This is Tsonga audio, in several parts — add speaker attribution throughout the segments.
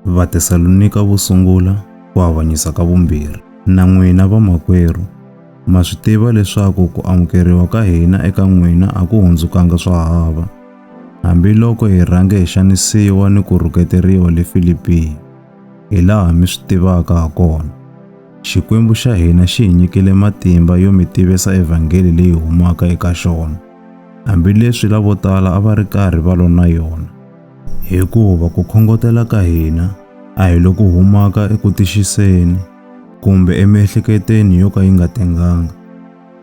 Speaker 1: Vatesalonika vo sungula ku avanyisa ka vumbirhi. Na n'wina vamakwerhu, ma swi tiva leswaku ku amukeriwa ka hina eka n'wina a ku hundzukanga swa hava, hambiloko hi rhange hi xanisiwa ni ku rhuketeriwa le Filipiya, hilaha mi swi tivaka hakona. Xikwembu xa hina xi hi nyikile matimba yo mi tivisa evhangeli leyi humaka eka xona, hambileswi lavotala a va ri karhi va lwa na yona. Hikuva ku khongotela ka hina a hi loku humaka eku tixiseni kumbe emiehleketweni yo ka yi nga tenganga,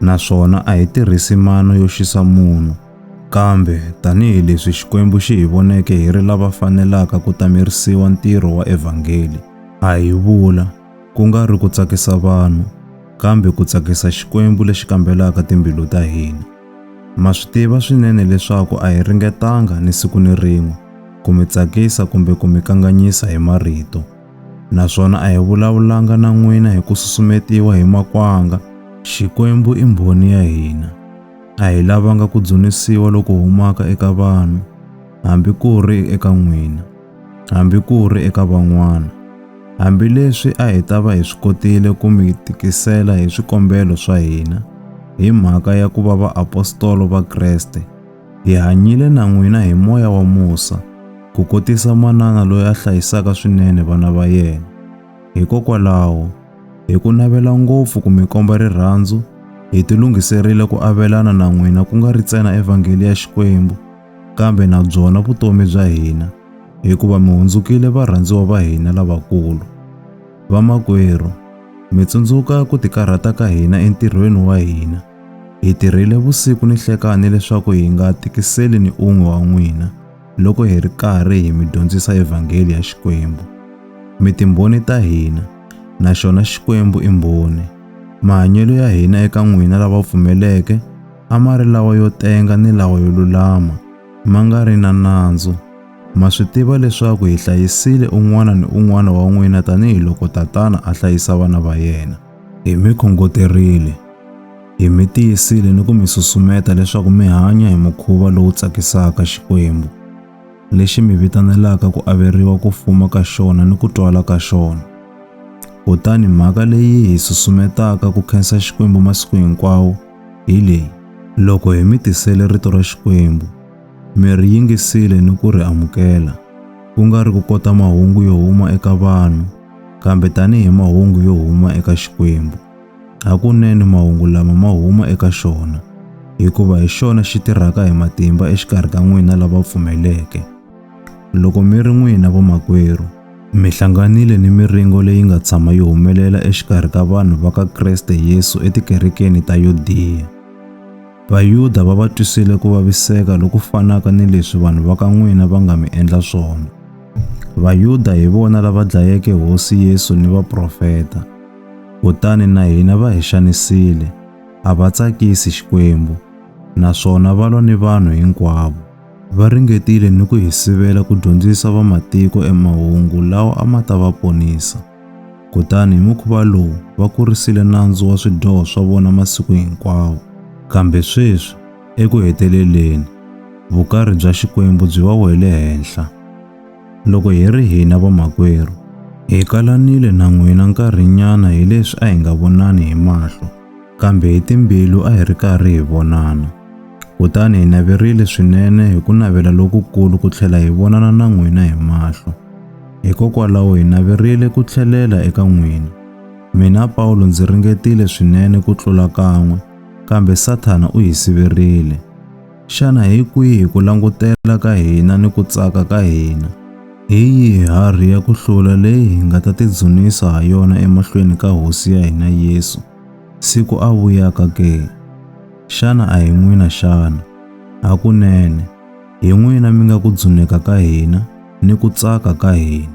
Speaker 1: naswona a hi tirhisi mano yo xisa munhu, kambe tanihi leswi Xikwembu xi hi voneke hi ri lava fanelaka ku tamerisiwa ntirho wa evhangeli, a hi vula, ku nga ri ku tsakisa vanhu, kambe ku tsakisa Xikwembu lexi kambelaka timbilu ta hina. Ma swi tiva swinene leswaku a hi ringetanga ni siku ni rin'we ku mi tsakisa kumbe ku mi kanganyisa hi marito, naswona a hi vulavulanga na n'wina hi ku susumetiwa hi makwanga. Xikwembu i mbhoni ya hina. A hi lavanga ku dzunisiwa loku humaka eka vanhu, hambi ku ri eka n'wina. hambi ku ri eka van'wana. Hambileswi a hi ta va hi swi kotile ku mi tikisela hi swikombelo swa hina hi mhaka ya ku va vaapostolo va Kreste, hi hanyile na n'wina hi moya wa musa, ku kotisa manana loyi a hlayisaka swinene vana va yena. Hikokwalaho, hi ku navela ngopfu ku mi komba rirhandzu, hi tilunghiserile ku avelana na n'wina ku nga ri ntsena evhangeli ya Xikwembu, kambe na byona vutomi bya hina hikuva mi hundzukile varhandziwa va hina lavakulu. Vamakwerhu, mi tsundzuka ku tikarhata ka hina entirhweni wa hina. Hi tirhile vusiku ni nhlekani leswaku hi nga tikiseli ni un'we wa n'wina loko hi ri karhi hi mi dyondzisa evhangeli ya Xikwembu. Mi timbhoni ta hina, na xona Xikwembu i mbhoni. Mahanyelo ya hina eka n'wina lava pfumeleke a ma ri lawa yo tenga ni lawa yo lulama, ma nga ri na nandzu. Ma swi tiva leswaku hi hlayisile un'wana ni un'wana wa n'wina tanihi loko tatana a hlayisa vana va yena. Hi mi khongoterile, hi mi tiyisile ni ku mi susumeta leswaku mi hanya hi mukhuva lowu tsakisaka Xikwembu, lexi mi vitanelaka ku averiwa ku fuma ka xona ni ku twala ka xona. Kutani mhaka leyi hi susumetaka ku khensa Xikwembu masiku hinkwawo hi leyi, loko hi mi tisele rito ra Xikwembu, mi ri yingisile ni ku ri amukela, ku nga ri ku kota mahungu yo huma eka vanhu, kambe tanihi mahungu yo huma eka Xikwembu. Hakunene mahungu lama ma huma eka xona, hikuva hi xona xi tirhaka hi matimba exikarhi ka n'wina lava pfumeleke. Loko mi ri n'wina vamakwerhu, mi hlanganile ni miringo leyi nga tshama yi humelela exikarhi ka vanhu va ka Kreste Yesu etikerekeni ta Yudiya. Vayuda va va twisile ku vaviseka loku fanaka ni leswi vanhu va ka n'wina va nga mi endla swona. Vayuda hi vona lava dlayeke Hosi Yesu ni vaprofeta, kutani na hina va hi xanisile, a va tsakisi Xikwembu, naswona va lwa ni vanhu hinkwavo. Va ringetile ni ku hi sivela ku dyondzisa vamatiko emahungu lawa a ma ta va ponisa. Kutani hi mukhuva lowu va kurisile nandzu wa swidyoho swa vona masiku hinkwawo. Kambe sweswi, eku heteleleni, vukarhi bya Xikwembu byi va wele henhla. Loko hi ri hina vamakwerhu, hi kalanile na n'wina nkarhinyana hileswi a hi nga vonani hi mahlo, kambe hi timbilu a hi ri karhi hi vonana. Kutani hi naverile swinene hi ku navela lokukulu ku tlhela hi vonana na n'wina hi mahlo. Hikokwalaho hi naverile ku tlhelela eka n'wina. Mina Pawulo ndzi ringetile swinene ku tlula kan'we, kambe Sathana u hi siverile. Xana hi kwihi ku langutela ka hina ni ku tsaka ka hina? Hi yihi harhi ya ku hlula leyi hi nga ta tidzunisa ha yona emahlweni ka Hosi ya hina Yesu, siku a vuyaka ke? Xana a hi n'wina xana? Hakunene, hi n'wina mi nga ku dzuneka ka hina ni ku tsaka ka hina.